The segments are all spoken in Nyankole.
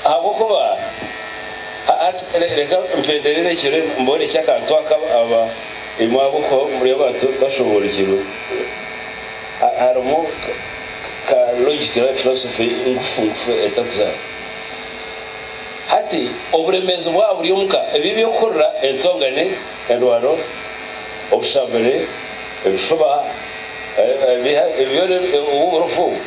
Ahabw'okuba, hati reka mpenderere ekiro mboorekye akantu aka aba ei mwabuukaho omuri abantu bashoboorokirwe. Harimu ka logiki nari filosofi ngufu ngufu etarikuzaara. Hati, oburemeezi bwaba buri omu ka, ebi eby'okuhurira, entongane, endwano, obushabure, ebishuba, ebiha, ebyo byona obu burofa obu.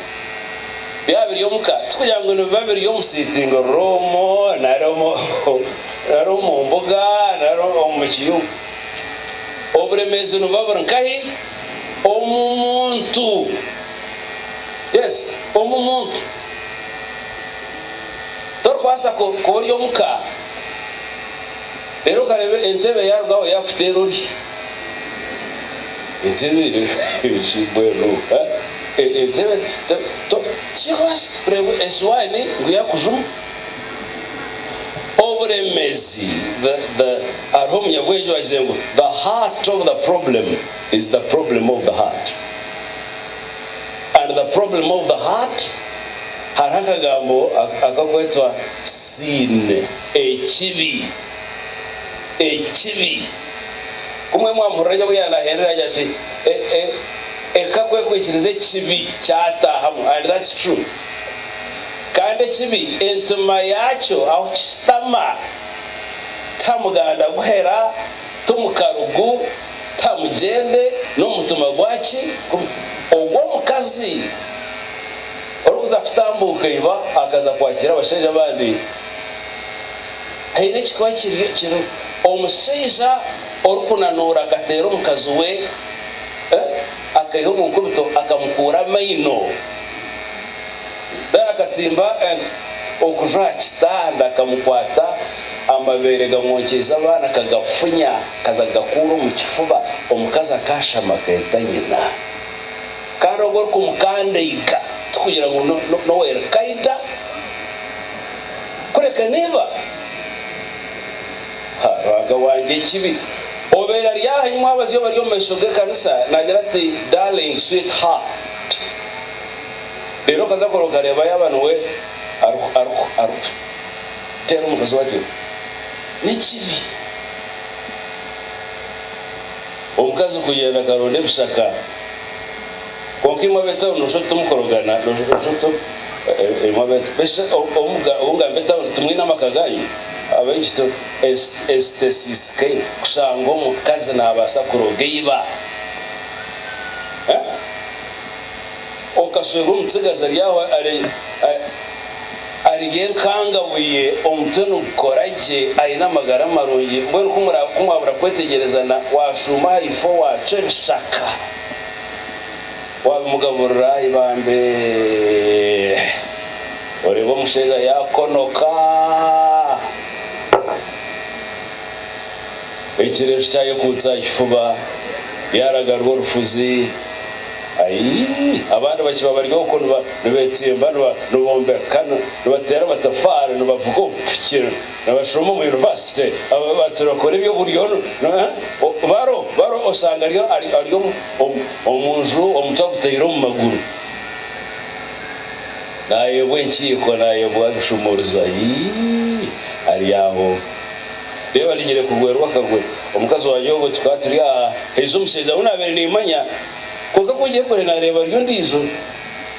Byaba biri omu ka, tikugira ngu nibiba biri omu siitingi ruumu nari nari omu mbuga nari omu kiyumba. Oburemeezi nibuba buri nkahi? Omu muntu. Yes, omu muntu. Torikubaasa kuba ori omu ka. Reero nkareeba entebe yaarugaho yaakuteera ori. Entebe shi mbwenu ha? E, entebe te, to, tikyebaasa kureebwa esiwaani ngu yaakujuma. Oburemeezi, the, the, hariho omunyabwengye owaagize ngu, The heart of the problem is the problem of the heart. And the problem of the heart, hariho akagambo akakwetwa Siine. Ekibi! Ekibi! Kumwe mwampurira nyowe yanaherera agira ati, E, e, e, ka kwekwikiriza ekibi kyataahamu. And that's true. Kandi ekibi, entima yaakyo ahu kishutama, ta muganda guhera, ti mukarugu, ta mugyende, n'omutima gwa ki? Ogw'omukazi orikuza kutambuuka iba akaza kwakiira abashaija abandi. Haine ekikuba kiriyo kiriho omushaija orikunanuura akateera omukazi we akaiha omu nkubito akamukuura amaino. Then akatsimba okuju aha kitanda akamukwata amabeere gamwokyeize abaana akagafunya akaza kugakuura omu kifuba. Omukazi akashama akeeta nyina. Kandi ogu orikumukandaiga tikugira ngu n'owa Al-Qaeda. kureka neeba ha ruhanga wangye ekibi. Obeera ari aha imwe abazyo bari omu maisho g'ekanisa naagira ati, Darling, sweet heart. Reero okaza kora okareeba yaaba niwe arikuteera omukazi we atyo. N'ekibi. Omukazi kuyenda akaronda ebishaka. Kwonka imwe ab'etauni noshusha oti timukorogana, noshusha oti imwe ab'etauni. Noshusha oti obu ngamba etauni timwine amaka gaanyu? Abaishiki tu, ensi tesiisikaire kushanga omukazi naabaasa kuroga eiba. Okashwerwa omutsigazi ari aho ari enkangabuye, omutwe nigukora gye, aine amagara marungi. Mbwenu ku mwabura kwetegyerezana, waashuuma aha ifo waacwa ebishaka. wabimugaburira ibambe oreeba omushaija yakonoka ekireju kyayekuutsa aha kifuba yaragarwa orufuzi ayii abandi bakiba bari okwo nibatsimba nibombeka nibateera amatafaari nibavuga obupiki Nabashuroma omu yunivasite aba bati bakora eby'oburyo baro baro osanga ari ari omu nju omutwe agutaire omu maguru nayebwa enkiiko nayebwa ebishumurizo aii ari aho reba ninyire kugwerwa akagwe omukazi wangye obwe tukaba turi aha haizi omushaija wu nabire nimanya kwonka ku ngyekore nareba ari ondijo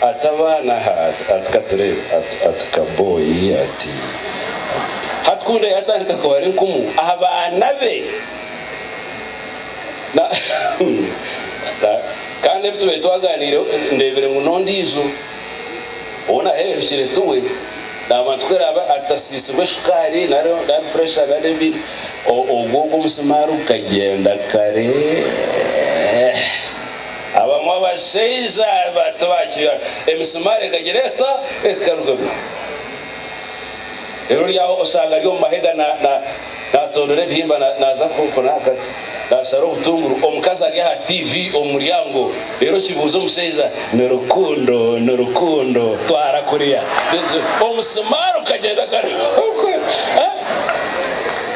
Ati, Abaana aha, ati, ati katureebe, ati, ati kabooyi, ati, ati. Hati kunda yaatandika kubara enkumu aha baana be. Na, na, kandi ebi tubaire twagaaniireho, ndeebire ngu n'ondiijo ou nahererukire tuwe, naabantu ku araabe atasiisirwe shukaari nari, nari puresha nari ebindi, o, ogwo, ogwo omusimaari gukagyenda kare. Abamwe abashaija tibakira emisumaari ekagira eta ekarugamu. Reero ori aho oshanga ari omu mahega naatondora ebihimba naaza kunaakata, naashara obutunguru, omukazi ari aha tiivi omu muryango reero kibuuza omushaija ni rukundo ni rukundo twara kuriya omusumaari okagyenda okaruga.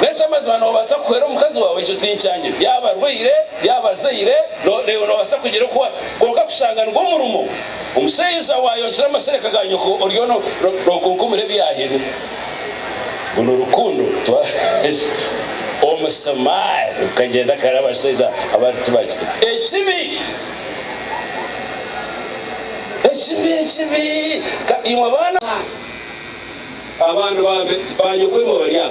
N'eky'amazima noobaasa kuhwera omukazi waawe ekyo tinkyangyire yaaba arwaire. y'abazaire reero noobaasa kugira oku ori, kwonka kushanga nigwo murimo. Omushaija waayongyera amasereka ga nyoko oriyo nookunkumura ebyahirwe. Ogu ni rukundo. Omusimaari gukagyenda kare abashaija abandi tibakitega. Ekibi, ekibi, ekibi! Ka imwe baana. Abaana ba nyoko imwe bari aha.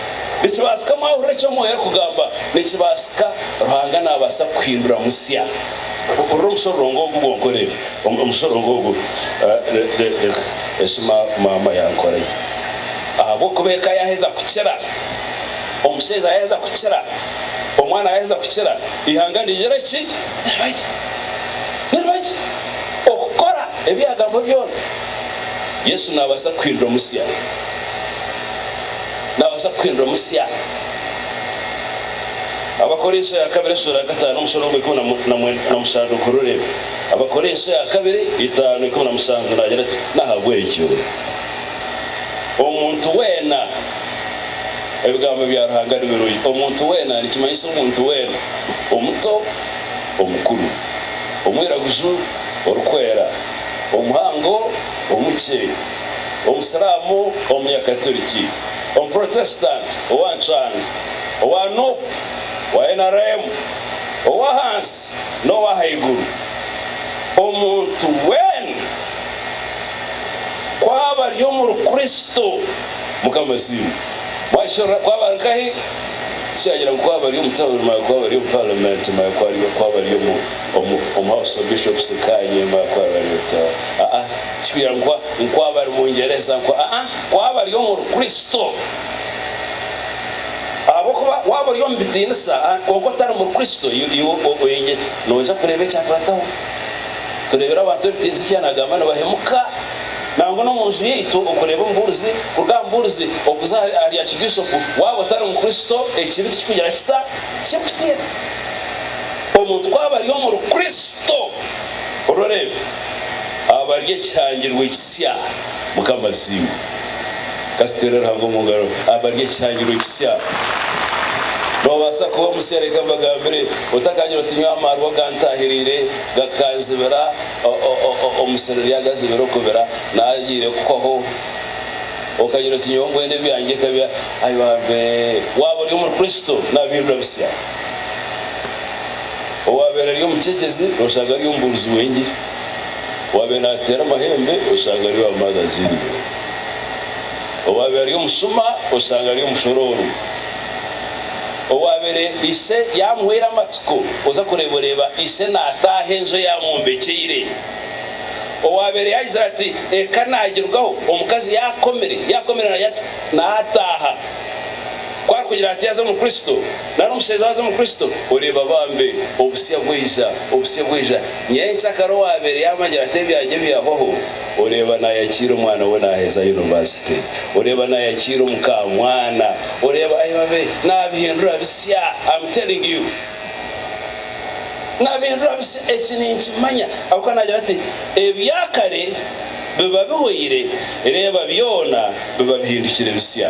Nikibaasika mwahurira eki Omwoyo arikugamba? Nikibaasika. Ruhanga naabaasa kukuhindura musya. Hurira omushororongo ogu gwonka oreebe. Omu, omushororongo ogu, le, le, leka, eki ma, maama yankoreye. Ahabw'okuba eka yaaheza kukira, omushaija yaaheza kukira, omwana yaaheza kukira, eihanga nirigira ki? Niriba gye. Niriba gye. Okukora ebi yaagamba byona. Yesu naabaasa kukuhindura musya. naabaasa kukuhindura musya. Abakorinso ya kabiri esuura ya kataano omushoro gwa ikumi na mushanju guhurure. Abakorinso ya kabiri itaano ikumi na mushanju naagira ati, N'ahabw'ekyo omuntu weena, ebigambo bya Ruhanga ni birungi, omuntu weena, nikimanyisa omuntu weena, omuto, omukuru, omwiraguju, orikwera, omuhango, omukye, Omusiraamu, Omunyakaturiki, Omuprotesitanti, owa Ncwani, owa nup, owa nrm, ow'ahansi n'ow'ahaiguru, omuntu weena ku aba ari omuri Kristo, Mukama asiimwe, mwakirora ku aba ari nkahi, tikyagira ngu ku aba ari omu tawuni manya ku aba ari omu Paramenti manya ku aba ari omu House of Bishops nkaanye manya ku aba ari ota, aa. Tikibeera ngu Nk'oaba ari Mwingyereza, nku, aa, Nk'oaba ari omuri Kristo. Ahabw'okuba waaba ori omu bitiinisa, a, kwonka otari muri Kristo, you, you, o, oingi, noija kureeba ekyakurataho. Tureebire abantu b'ebitiinisa eki yanaagamba, nibahemuka. Nangwa n'omu nju yaitu, okureeba omubuurizi, kuruga aha mubuurizi okuza ahari, ahari a kibiishopu, waaba otari mu Kristo, ekibi tikikugira kita? Tikikutiina. Omuntu ku aba ari omuri Kristo, orooreebe. abarya ekihangirwe ekisya mukama asiimwe katuteere ruhanga omungaro abarya ekihangirwe ekisya nobaasa kuba omusya reka mbagambire otakagira oti nyowe amaarwa gantahiriire gakanzibira omusiri ryagazibira okubira nagiire kuhwaho okagira oti nyowe mbwenu ebyangye nkabya ayi bambe waaba ori omuri kristo nabihindura bisya. Owaabaire ari omucecezi nooshanga ari omubuurizi w'engiri. Owaabaire naateera amahembe oshanga ari owa Mother's Union. Owaabaire ari omushuma oshanga ari omushoroorwa. Owaabaire ise yaamuhwera amatsiko oza kureeba oreeba ise naataaha enju ei amwombekyeire. Owaabaire yaayizire ati eka naagirugaho omukazi yaakomire, yaakomire naataaha. Ku arikugira ati yaaza omuri Kristo. Nari omushebyazi omukristo oreeba bambe obusya bwaija, obusya bwaija. Nyenkyakara kare owaabaire yaamanyire ati ebyangye byahwaho, oreeba naayakiira omwana we naaheza yunivasite, oreeba naayakiira omukaamwana, oreeba aibabe naabihindura bisya. Am telling you. Naabihindura bisya. Eki ninkimanya ahabw'okuba naagira ati, Ebya kare biba bihwaire, reeba byona biba bihindukire bisya.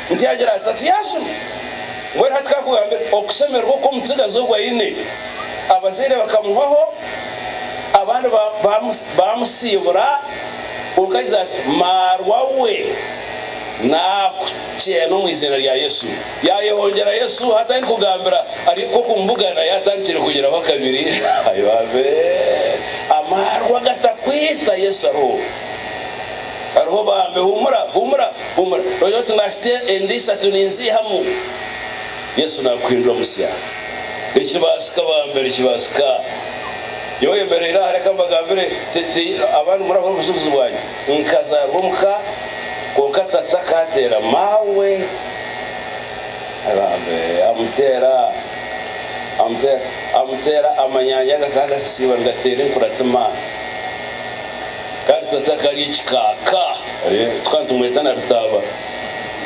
Ntiyagira ati, Ati yaashuma? Mbwenu hati ka nkugambire okushemererwa oku omutsigazi ogu aine. Abazaire bakamuhwaho, abandi baamusiibura, kwonka yaija ati, Maarwa we, naakukyeena omu iziina rya Yesu. Yaayehongyera Yesu, hati arikugambira ari nk'oku mbugaana yaatandikire kugiraho akabiri. Ayo abee! Amaarwa gatakwita, Yesu ariho. Hariho obambe. Humura, humura, humura. Nogira oti, Naahitsya enda ishatu ninziihamu. Yesu naakuhindura musya. Nikibaasika bambe, nikibaasika. Nyowe oyemereire aha, reka mbagambire, ti, ti, abandi murahurira obujulizi bwangye. Nkazaarwa omu ka, kwonka tata akaateera maawe. Bambe, amuteera, amuteera, amuteera, amanyanya gakaba gasitsiirwe nigateera enkuratima. kandi tata akari ekikaaka tukaba nitumweta na Rutaaba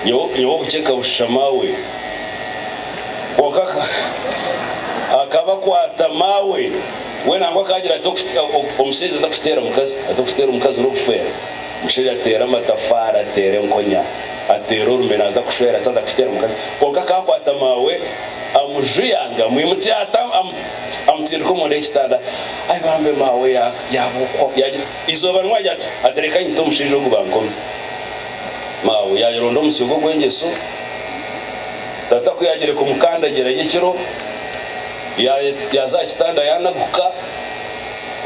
nyowe okuceka bushisha maawe kwonka akaba akwata maawe we nangwa akagira ati omushaija atakuteera mukazi atakuteera omukazi nokufeera omushaija ateera amatafaari ateera enkonya ateera orume naza kushwera ati aza kuteera mukazi kwonka akakwata maawe amujuya ngu amwimutse ata amutsindika omunda y'ekitanda ahi bambe maawe yaaba okwo. Yaagira eizooba rimwe agira ati, Ati reka nyite omushaija ogu bankome. Maawe yaayeronda omusyo ogwo ogw'engyeso. Tata ku yaagiire kumukandagira nyekiro, yaaza aha kitanda yaanaguka.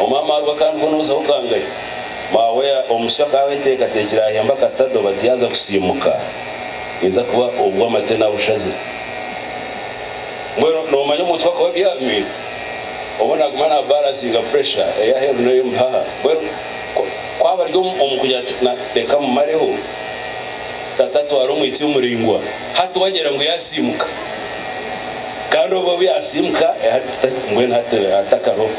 Omwami aruga kandi bwo nooza okangayo. Maawe omusyo akaba ateekateekire ahemba akatadoba ati yaaza kusiimuka naija kuba ogw'amate nabushaze. Mbwenu noomanya omuntu ku akuba abyamire, obwo naaguma naabaransinga puresha ey'aheeru n'ey'omu bihaha. Mbwenu ku aba ari omu kugira ati, Reka mmumareho, tata atwara omwitsyo muraingwa, hati waagira ngu yaasiimuka. Kandi obwo obu yaasiimuka, mbwenu hati atakariho.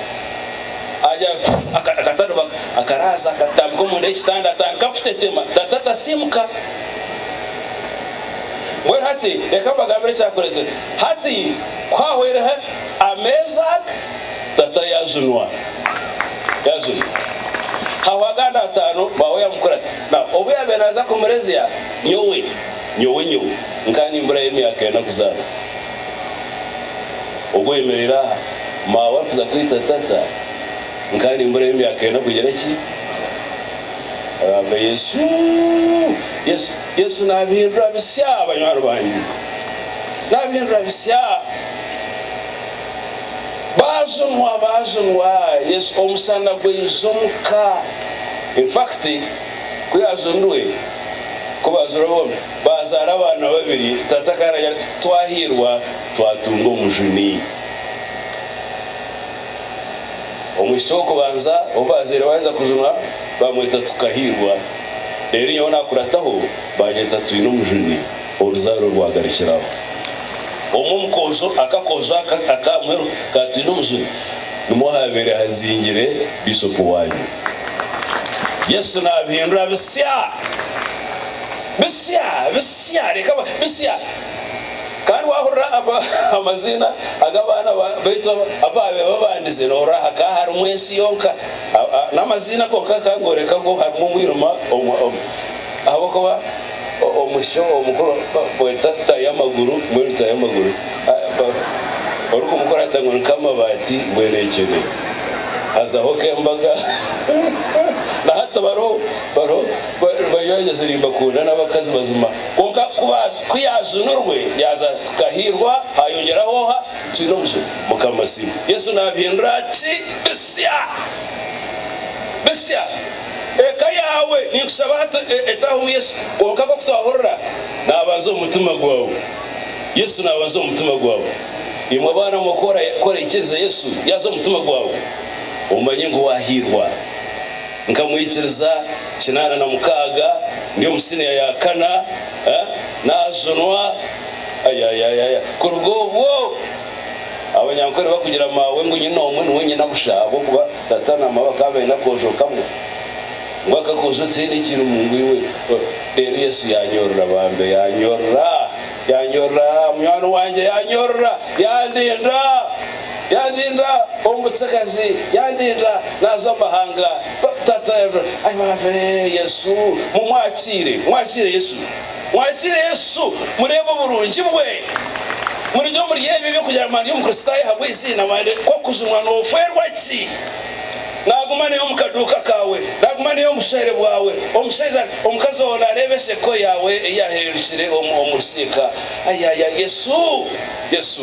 Agira ati, Akatadoba akaraaza, akatambika omunda y'ekitanda, atandika kutetema. Tata tasiimuka. Mbwenu hati reka mbagambire ekyakureetera. Hati ku haahwaireho ameezi aga, tata yaajunwa. Yaajunwa. Hahwa agandi ataano, baawe yamukora ati, Nau, obu yaabaire naaza kumurezya, nyowe, nyowe, nyowe nkaba nimburayo emyaka ena kuzaarwa. Ogu oyemereire aha, maawe arikuza kwita tata, nkaba nimburayo emyaka ena kugira ki? Kuzaarwa. Agamba, Yesu! Yesu! Yesu naabihindura bisya banywani bangye. Naabihindura bisya. Baajunwa, baajunwa Yesu. Omusana gwaiza omu ka. In fact, ku yaajunirwe, ku baajunirwe bombi, baazaara abaana babiri. Tata akaba naagira ati, Twahiirwa twatunga omujuni. Omwishiki w'okubanza ou baazaire baaheza kujunwa baamweta Tukahirwa, reero nyowe naakurataho baanyeta Twineomujuni oruzaaro rwagarukiraho. Omu omukoozo, akakoozo aka aka Mweru ka Twineomujuni nimwo haabaire hazingire Bishopu waanyu. Yesu naabihindura bisya! Bisya! Bisya! Reka ba, bisya! Kandi waahurira amaziina ag'abaana baitu abu baabaire babandize, noohurira hakaba harimu ensi yonka. N'amaziina konka gakaba nigooreka ngu harimu omwirima omu. Ahabw'okuba omwishiki omukuru bamweta Rutayamaguru, mbwenu Rutayamaguru orikumukurata ngu ni Kamabaati mbwenu ekyo ni. Hazaho k'embaga. Na hati bariho. Banywanize Rimbakunda n'abakazi bazima kwonka ku yaajunurwe yaaza ati Kahiirwa haayongyeraho oha? Twine omuzimu. Mukama Siima. Yesu naabihindura ki? Bisya! Bisya! Eka yaawe ninkushaba hati etaahamu Yesu kwonka nk'oku twahurira naabanza omu mutima gwawe. Yesu naabanza omu mutima gwawe. Imwe abaana mwe ku oraikiriza Yesu yaaza omu mutima gwawe omanye ngu waahiirwa. Nkamwikiriza kinaana na mukaaga ndi omu siniya ya kana, naajunwa ayayayaya. Kuruga obwo, abanyankore bakugira maawe ngu nyina omwe niwe nyina busha ahabw'okuba tata na mama bakaba baine akoojo kamwe. Ngu aka akoojo tihaine ekirimu ngu iwe. Reero Yesu yaanyorora bambe, yaanyorora! Yaanyorora munywani wangye, yaanyorora, yaandinda. Yandinda omu butsigazi, yandinda naaza omu mahanga. Tata ayi baaba ee Yesu mumwakiire, mwakiire Yesu, mwakiire Yesu, mureebe oburungi bwe, murye omuri ebi ebyokurya ngu mwandya omukristaayo ahabw'eiziina, mwande ku okujunwa noofweerwa ki? Naaguma naye omu kaduuka kaawe, naaguma naye omu bushwere bwawe, omushaija, omukazi ou naareeba ensheko yaawe ei yaahindukire omu, omu rusiika. Ayi, ayi, ayi Yesu, Yesu.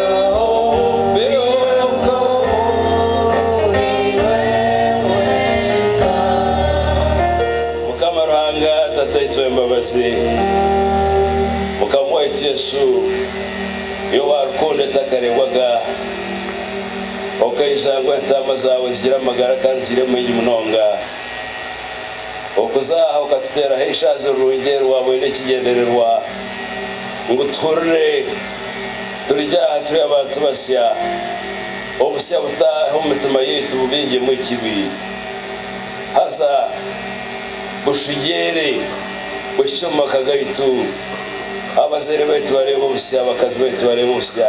Mukama Ruhanga Tataitu w'embabazi, Mukama waitu Yesu, Iwe owa rukundo etakareebwaga, okaija ngu entaama zaawe zigire amagara kandi zigire maingi munonga. Okuza aha okatuteeraho eishaazi rirungi eri waaboine ekigyendererwa ngu tuhurire. Turija aha turi abantu basya, obusya buta omu mitima yaitu bubingyemu ekibi. Haza bushugyeere buhikye omu maka gaitu. Abazaire baitu bareebe obusya, abakazi baitu bareebe obusya,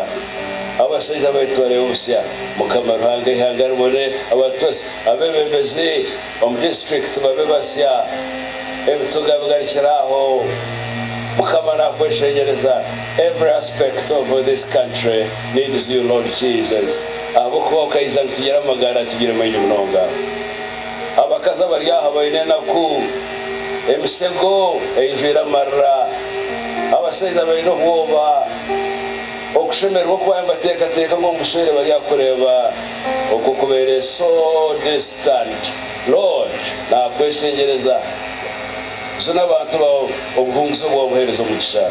abashaija baitu bareebe obusya. Mukama Ruhanga, eihanga ribone abantu basya, abebembezi. Omu disiturikiti babe basya ebituga bigarukire aho mukama nakweshenyereza every aspect of this country needs you Lord Jesus ahabwokuba okaija ngu tugire amagara tugire maingi munonga abakazi abari aha baine enaku emisego eijwire amarira abashaija baine obwoba okushemererwa okwayo mbatekateka ngu omu bushwere bari aha kureeba Okwo kubaire so distant Lord nakweshengyereza Zuna abantu bawe obuhunguzi obu wabuhereza omugisha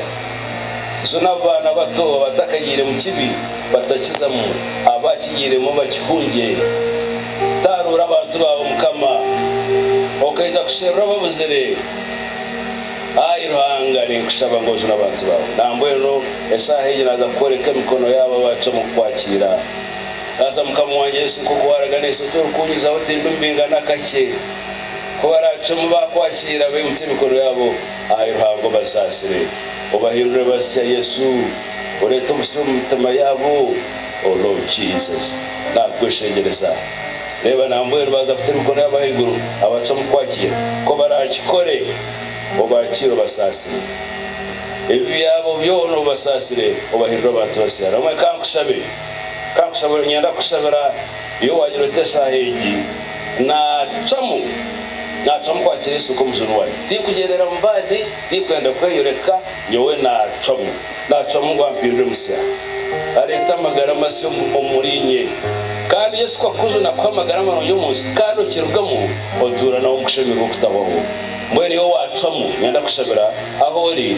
Zuna abu baana bato abatakagiire mu kibi batakizamu abakigiiremu bakihungye Taruura abantu bawe mukama Okaija kusherura ababuzire Ayi Ruhanga ninkushaba ngu ojune abantu bawe Nambwenu esaaha egi naza kukworeka emikono yaabo abacwa omu kukwakiira. Kansa Mukama wangye Yesu nk'oku waaraganiise oti, Orikunyizaho oti embi mbinga n'akakye. Ku baraacwemu baakwakiira, baimutse emikono yaabo ahari Ruhanga obasaasire, obahindure bazikya Yesu, oreete obusiru omu mitima yaabo. O Lord Jesus, naakweshengyereza. Reeba nambwenu baaza kuta emikono yaabo ahaiguru abacwamu kwakiira. Ku baraakikore, obaakiire obasaasire. Ebibi byabo byona obibasaasire, obahindure abantu basya. Ramwe ka nkushabe. Kankushabire niinyenda kukushabira iwe waagira oti eshaaha egi naacwamu naacwamu kwakira Yesu nk'Omujuuni wangye. Tinkugyendera mu bandi, tinkwenda kweyoreka, nyowe naacwamu naacwamu ngu ampindure musya, areete amagara masya omuriinye. Kandi Yesu ku akujuna akuha amagara marungi omu nsi kandi okirugamu otuura nawe omu kushemererwa okutahwaho. Mbwenu iwe waacwamu niinyenda kukushabira ahu ori.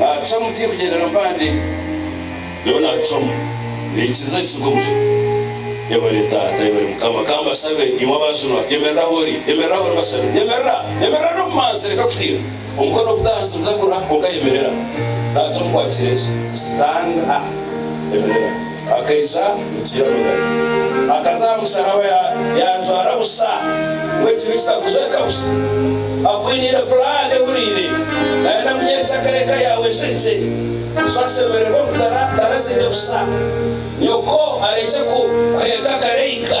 Naacwamu tiri kugyendera mpande, nyowe naacwamu. Naikiriza ekisiga omuri. Yebare Taata, yebare Mukama. Ka mbashabe, imwe abajunwa, yemerera ahu ori, yemerera ahu ori mbashabe. Yemerera! Yemerera n'obumanzi, reka kutiina. Omukono oguta ahansi guta guriho, kwonka yemerera. Naacwamu kwakira ensi. Sitaana! Yemerera. Akaija kukiira magara. Akaza aha musharaba ya yajwara busha ngu ekibi kitakujweka busha. Akwiniire pulaani ehuriire. Nayenda kunyerekya akara eka yaawe eshekye. Bushu ashemererwe kutara tarazaire busha. Nyoko arekye ku kuheeka akara eika.